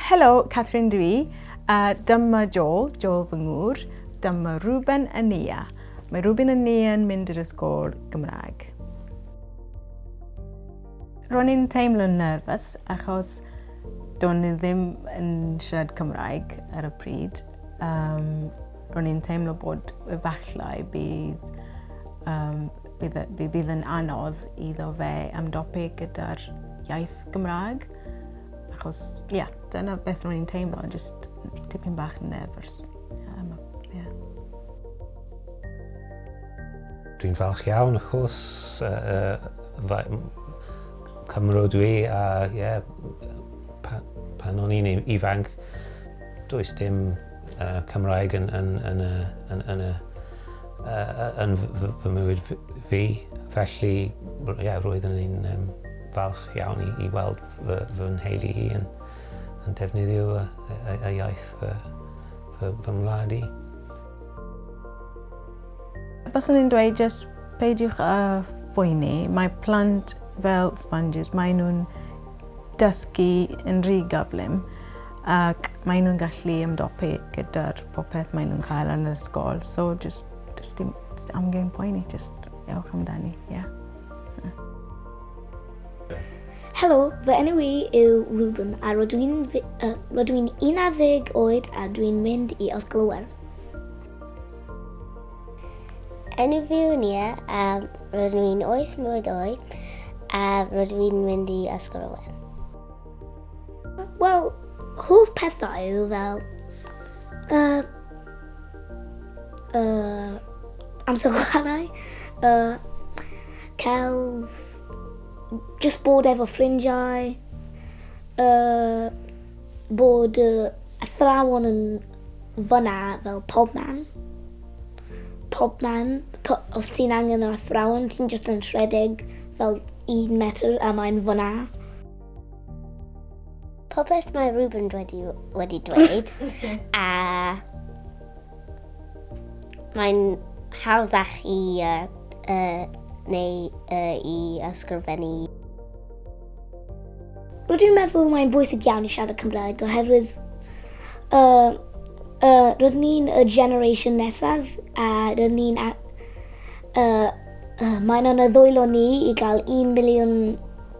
Helo, Catherine dwi. Uh, dyma Joel, Joel fy ngŵr. Dyma Ruben a Nia. Mae Ruben a Nia yn mynd i'r ysgol Gymraeg. Ro'n i'n teimlo'n nerfus achos do'n i ddim yn siarad Cymraeg ar y pryd. Um, Ro'n i'n teimlo bod efallai bydd, um, bydd, e, bydd, bydd yn anodd iddo fe ymdopi gyda'r iaith Gymraeg. Achos, ie, yeah, dyna beth ro'n i'n teimlo, just tipyn bach yn nervous. Um, yeah. Dwi'n falch iawn, of course, uh, uh, Cymro dwi, a uh, yeah, pan o'n i'n ifanc, Does dim Cymraeg yn fy mywyd fi, felly roeddwn i'n falch iawn i weld fy nheulu i yn defnyddio y iaith fy ngwlad i. Baswn i'n dweud jyst peidiwch â phoeni, mae plant fel sponges, maen nhw'n dysgu yn rhy gyflym. Ac maen nhw'n gallu ymdopi gyda'r popeth maen nhw'n cael yn yr ysgol. So, just, just dim just amgen poeni, just ewch amdani, ie. Yeah. Helo, fy enw i yw Ruben a rydw i'n uh, rydw i'n 11 oed a dwi'n mynd i Ysgol Iwerddon. Enw fi yw Nia a rydw i'n 8 mlynedd oed a rydw i'n mynd i Ysgol Iwerddon. Wel, hoff pethau yw fel... Uh, uh, amser chwarae, uh, celf, just bod efo ffrindiau, uh, bod uh, athrawon yn fyna fel pob man. Pob man, po, os ti'n angen yr athrawon, ti'n just yn rhedeg fel un metr a mae'n fyna. Popeth mae Ruben wedi, wedi dweud, a mae'n hawddach i uh, uh, neu uh, i ysgrifennu. Rwy'n meddwl mae'n bwysig iawn i siarad Cymraeg oherwydd uh, uh, rydyn ni'n y generation nesaf a rydyn ni'n... Uh, uh, mae'n anodd ddwylo ni i gael 1 miliwn